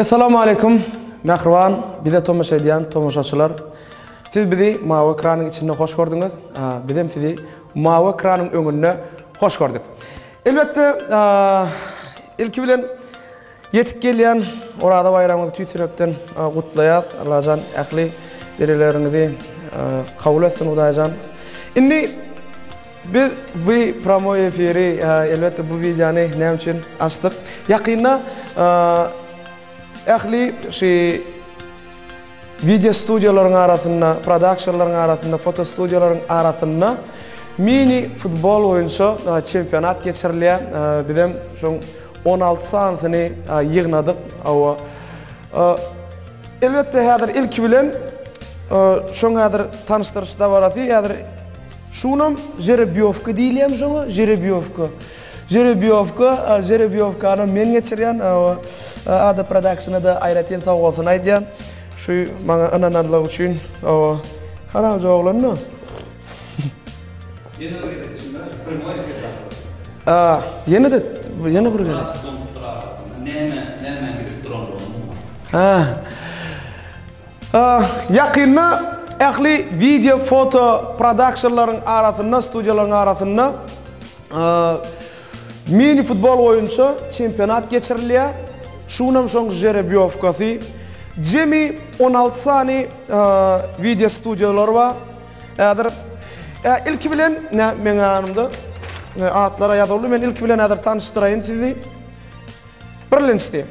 Assalamu alaykum. Mähriban, bize tomaşa edýän tomaşaçylar. Siz bizi mawy ekranyň içinde hoş gördüňiz. Biz hem sizi mawy ekranyň öňünde hoş gördük. Elbetde, ilki bilen Ýetip gelýän Oraza baýramyňyzy tüýs ýürekden gutlaýas. Allajan ähli dilegleriňizi kabul etsin Hudaýjan. Indi biz bu promoý efiri, elbetde bu wideony näme üçin açdyk? Ýakynda ähli şu Wideo studiýalaryň arasynda, prodaksionlaryň arasynda, fotostudiýalaryň arasynda mini futbol boýunça çempionat geçirilýär. Bizem şoň on alty sanysyny ýygnadyk. Hawa. Elbetde häzir ilki bilen şoň häzir tanyşdyryş dabarasy häzir şunam žerebiýowka diýilýärmi şoňa, žerebiýowka. Žerebiýowka, žerebiýowkany men geçirýän, Ada Production-a-da aýratyn sag-bolsun aýdýan, şu maňa ynananlygy üçin, hawa, haramja oglan-da. Ýene bir gezek içinde primoý efir tarapyndan. Ýene-de, ýene bir gezek. Has doňupdyr arasynda, näme, nämäň gidip duranlygyny bilmän. Ýakynda ähli wideo, foto, production-laryň arasynda, studiýalaryň arasynda, Mini-futbol boýunça çempionat geçirilýär. Şu gün hem şoň žerebýowkasy. Jemi on alty sany wideo studiýalar bar. Häzir ilki bilen meň ýanymda atlar ýazyldy. Men ilki bilen häzir tanyşdyraýyn sizi. Birlençdi.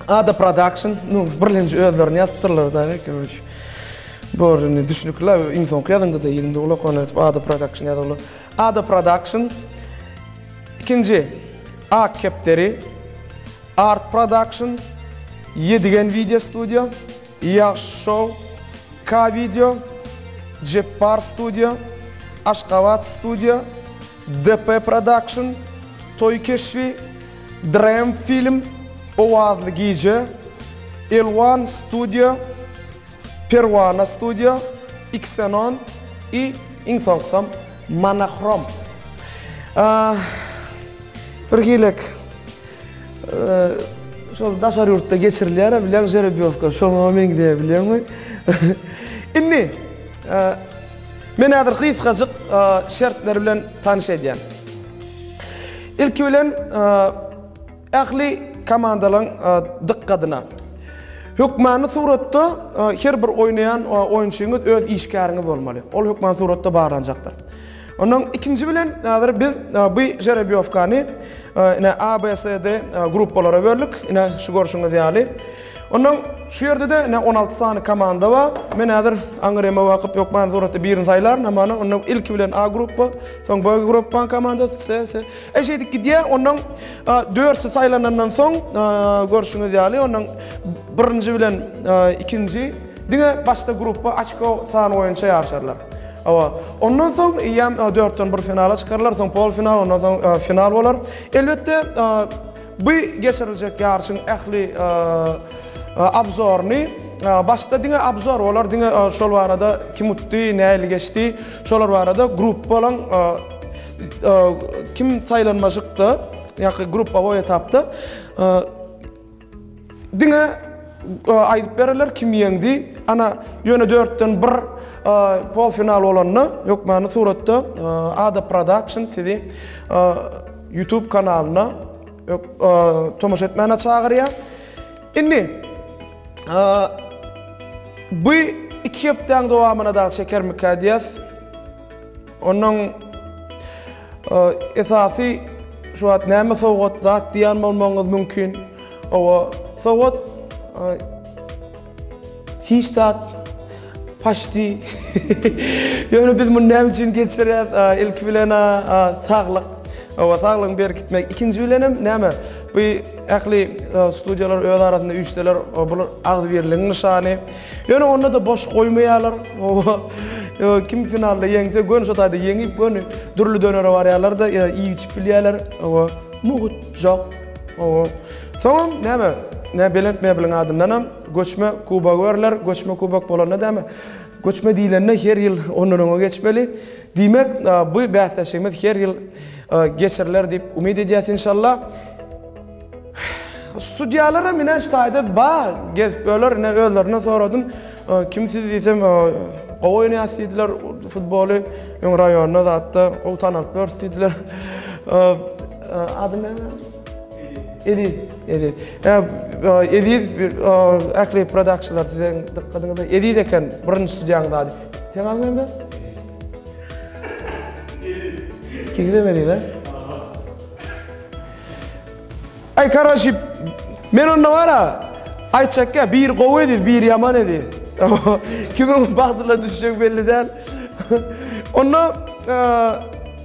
Ada Production. Nu, birlenji özlerini ýazypdyrlar da, görüň. Görüň, düşnükli. Iň soňky ýazanda-da ýüzünde gulak ony Ada Production ýazyldy. Ada Production, ikinji Ak kepderi, Art Production, Ýedigen Wideo Studio, Ýagşy Show, K-Video, Jepbar Studio, Aşgabat Studio, DP Production, Toý Keşbi, Dream Film, Owazly Gije, Elwan Studio, Perwana Studio, Xenon i iň soňkusam Monachrom. Birhilek şol daşary ýurtda geçirilýär-ä bileň žerebýowka, şoňa meňzeýär bileňmi? Indi men häzir gysgajyk şertler bilen tanyş edýän. Ilki bilen Ähli komandalaryň dykgadyna! Hökmany suratda her bir oýnaýan oýunçyňyz öz işgäriňiz bolmaly. Ol hökmany suratda barlanjakdyr. Ondan ikinji bilen häzir biz bu žerebýowkany ine A, B, C, D gruppalara böldük. Ine şu görşüňiz ýaly. Ondan şu ýerde-de ine on alty sany komanda bar. Men häzir aňyrýama bakyp hökmany suratda birini saýlaryn. Hamana onda ilki bilen A gruppa, soň B gruppaň komandasy, C, C. E şeýdip gidýär, onuň dörtüsi saýlanandan soň, görşüňiz ýaly, onuň birinji bilen ikinji diňe başda gruppa açko sany boýunça ýaryşarlar. Hawa. Ondan soň ýam dörtden bir finala çykarlar, soň polfinal, ondan soň final bolar. Elbetde, bu geçiriljek ýaryşyň ähli abzoryny, başda diňe abzor bolar, diňe şol barada kim utdy, nähili geçdi, şolar barada gruppalaryň Kim saýlanmajykda, ýa-ki gruppawoý etapda diňe aýdyp bererler kim ýeňdi. Ana, ýöne dörtden bir polfinal bolanda hökmany suratda Ada Production sizi YouTube kanalyna tomaşa etmäne çagyrýar. Indi bu iki hepdäň dowamyna dagy çekermikä diýýäs. Onuň esasy şu wagt näme sowgat zat diýen bolmagyňyz mümkin. Owa, sowgat hiç zat paşti. Ýöne biz muny näme üçin geçirýäs? Ilki bilen saglyk. Owa, saglygy berkitmek. Ikinji bilen hem näme? Bu ähli studiýalar öz arasynda üýşseler, bu agzybirligiň nyşany. Ýöne onda-da boş goýmaýarlar. Oba, kim finalda ýeňse, göni şo taýda ýeňip, göni dürli dönere barýarlar-da, iýip-içip bilýärler. Oba, mugt, jok. Oba. Soňam näme, nä belent mebliň adyndanam göçme kubok berler. Göçme kubok bolanda näme, göçme diýlende her ýyl ondan öňe geçmeli. Diýmek, bu bäsleşigimiz her ýyl geçiriler diýip umyt edýäs, inşallah. Sudýalaram ine şu taýda bar gezip öler ine özlerine soradym kim siz diýsem gowy oýnaýas diýdiler futboly öň raýonda zatda gowy tanalyp ýörüs diýdiler ady näme Eziz Eziz Eziz Ähli productionlar siziň dykgadyňyza Eziz eken birinji sudýaňyz ady Sen adyň näme Eziz Eziz Eziz Eziz Aý karaşip men onda bara aýtjak ya biri gowy edi biri ýaman edi. Kimiň bagtyna düşjek belli däl. Onda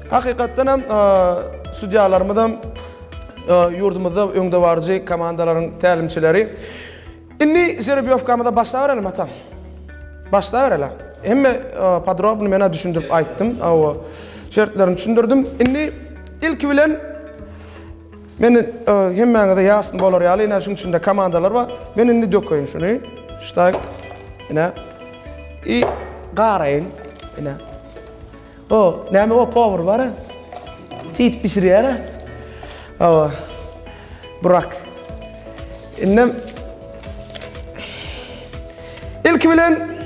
hakykatdan hem sudýalarymyzam ýurdumyzda öňdebaryjy komandalaryň tälimçileri. Indi žerebiýowkamyza başlabereliň atam. Başlabereliň. Hemme podrobny men-ä düşündirip aýtdym, hawa, şertlerini düşündirdim. Indi ilki bilen men hemmäňize ýasny bolar ýaly, ine şunuň içinde komandalar bar. Men indi dökeýin şuny. Ştaýk. Ine. I garaýyn. Ine. O näme o powar bara. Süýt bişirýär. Awa. Burak. Indem Ilki bilen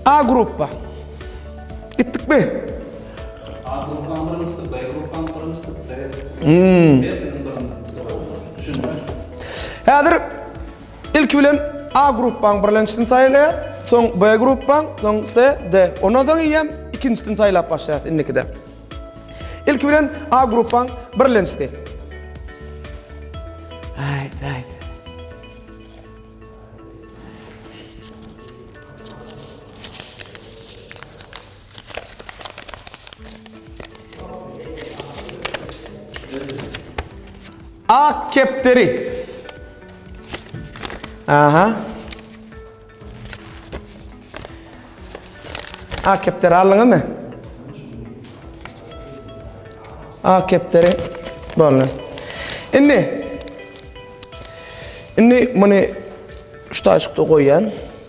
A gruppa. Gitdikmi? A gruppa birinjisi, B gruppa birinjisi, C. Hmm. Häzir Ilki bilen A gruppaň birlençisini saýlaýas, soň B gruppaň, soň C, D. Ondan soň eýýäm ikinjisini saýlap başlaýas indikide. Ilki bilen A gruppaň birlençisi. Aýt, aýt. Ak kepderi. Aha. Ak kepderi alın mı? Ak kepderi bolun. Şimdi, şimdi bunu şu taşıkta koyan.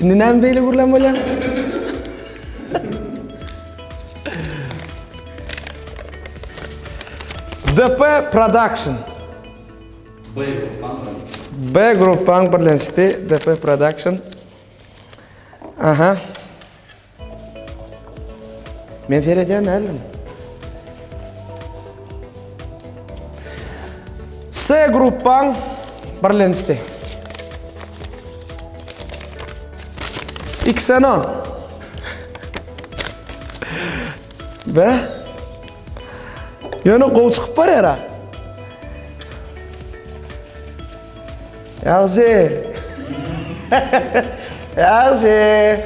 Indi näme beýle gürlän bolýaň? DP Production. B gruppaň birleşdi DP Production. Aha. Men seredýän däldim. S gruppaň birlenişdi. Xenon. Be. Ýöne gowy çykyp barýar-a. Ýagşy! Ýagşy!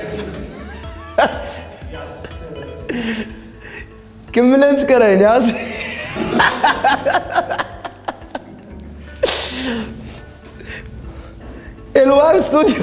Kim bilen çykaraýyn, ýagşy? Elwar studio.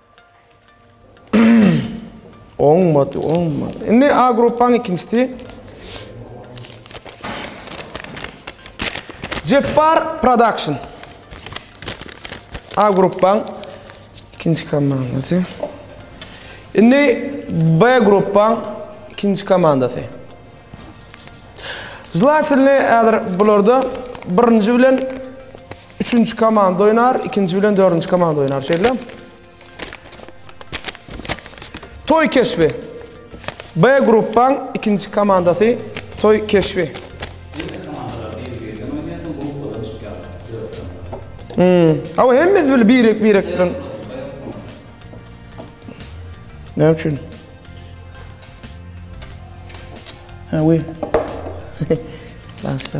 Oňmady, oňmady. Indi A gruppaň ikinjisi. Jepbar Production. A gruppaň ikinji komandasy. Indi B gruppaň ikinji komandasy. Zlatilni ädir bularda birinji bilen Üçünji komanda oýnar, ikinji bilen dördünji komanda oýnar, şeýle. Toy keşbi. B gruppaň ikinji komandasy Toy keşbi. Hmm. Awa hemmiz bil birek birek bilen. Ne üçin? Ha, we. Başla.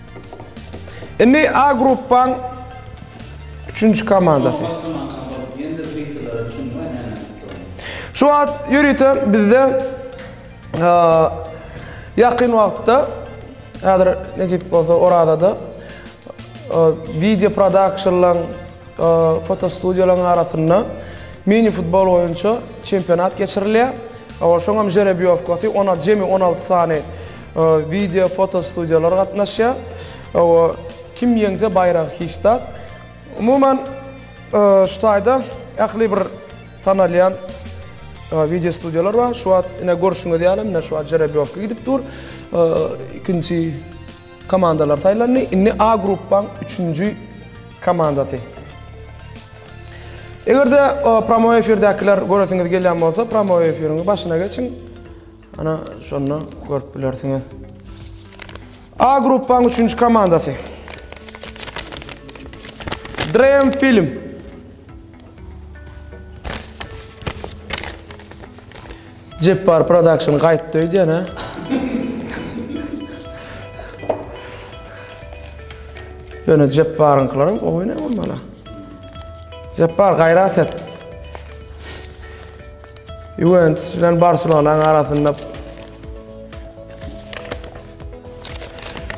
Indi A gruppaň üçünji komandasy. Şu wagt ýörite bizde ýakyn wagtda häzir nesip bolsa Orazada video prodakşnlaryň Fotostudiýalaryň arasynda mini-futbol boýunça çempionat geçirilýär. Şoňam žerebiýowkasy, ona jemi on alty sany wideo, foto studiýalar gatnaşýar. Kim ýeňse baýragy hiç zat. Umuman, şu taýda ähli bir tanalýan wideo studiýalar bar. Şu wagt ine görşüňiz ýaly, ine şu wagt žerebiýowka gidip dur. Ikinji. Komandalar saýlandy. Indi A gruppaň üçünji komandasy. Eger-de pramoý efirdäkiler göresiňiz gelýän bolsa, pramoý efiriň başyna geçiň. Ana, şonda görüp bilersiňiz. A gruppaň üçünji komandasy. Dream Film. Jepbar Production gaýtdy öýdýän-ä. Ýöne Jepbaryňkylaram gowy ne bolmaly. Jepbar gaýrat et. Juventus bilen Barselonanyň arasynda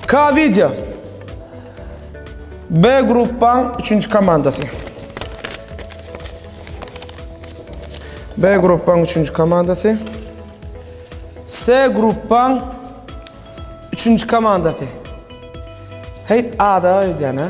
K video. B gruppaň üçünji komandasy. B gruppaň üçünji komandasy. S gruppaň üçünji komandasy. Hey, A-da öýdýän, ha?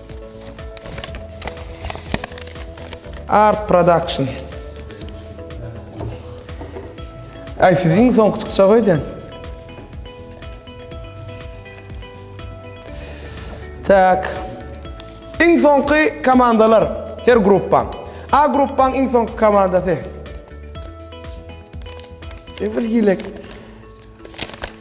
Art Production. Ay siz iň soňky çykyşa goýdyň. Tak. Iň soňky komandalar her gruppaň. A gruppaň iň soňky komandasy. Ebir hilek.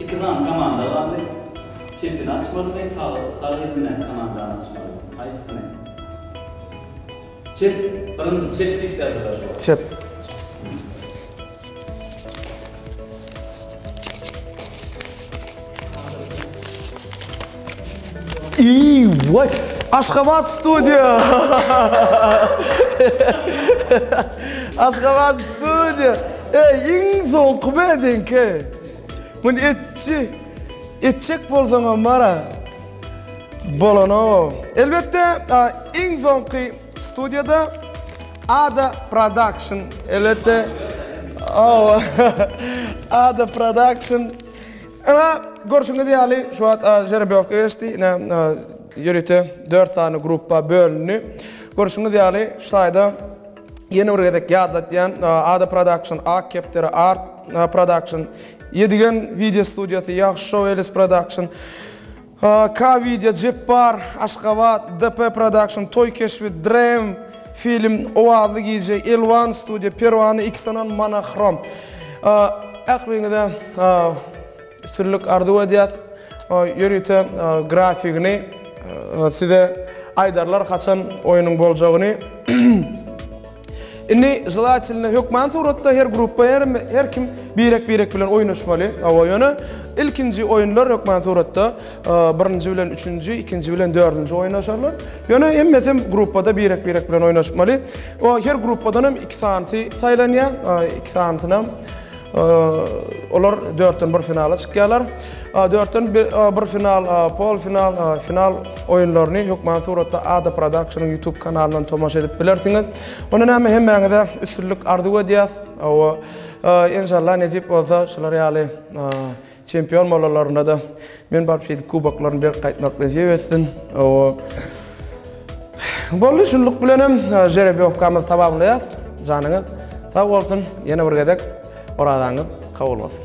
Iki sany komanda galdy. Çepini açmalymy, sagy, sag eli bilen komandany açmalymy? Haýsysyny? Çep, birinji çep diýip ýazylar şu wagt. Çep. Eýwa! Aşgabat studio! Aşgabat studio! Eý, iň soňky bädiňki! Muny etçi, etjek bolsaňam bar-a. Bolan-ow. Elbetde, iň soňky studiýada Ada Production, elbetde. Ow, Ada Production. Ine, görşüňiz ýaly, şu wagt žerebeowka geçdi. Ine, ýörite dört sany gruppa bölündi. Görşüňiz ýaly, şu taýda ýene bir gezek ýatlatýan Ada Production, Ak kepderi Art Production, Ýedigen wideo studiýasy, Ýagşy Show Elis Production, HK Wideo Jepbar, Aşgabat, DP Production, Toý keşbi, Dream Film, Owazly gije, Elwan Studio, Perwana Iksanan, Monochrom. Ähliňize üstünlik arzuw edýäs. Ýörite grafigini size aýdarlar haçan oýnuň boljagyny. Indi želateline hökman suratda her gruppa her her kim birek birek bilen oýnaşmaly. Hawa ýöne ilkinji oýunlar hökman suratda e, birinji bilen üçünji, ikinji bilen dördünji oýnaşarlar. Ýöne hemmesi gruppada birek birek bilen oýnaşmaly. O her gruppadan hem iki sanysy saýlanýar. E, iki sanysynam Olar dörtden bir finala çykýarlar. Dörtden bir final, pol final, final oýunlaryny hökman suratda Ada Productionyň YouTube kanalyndan tomaşa edip bilersiňiz. Onda näme hemmäňize üstünlik arzuw edýäs. Inşallah nesip bolsa şular ýaly Çempion bolalarynda-da men baryp şeýdip kuboklaryny berip gaýtmak nesip etsin. Boldy, şunluk bilen hem žerebiýowkamyzy tamamlaýas. Janyňyz sag bolsun, ýene bir gezek orazaňyz kabul bolsun.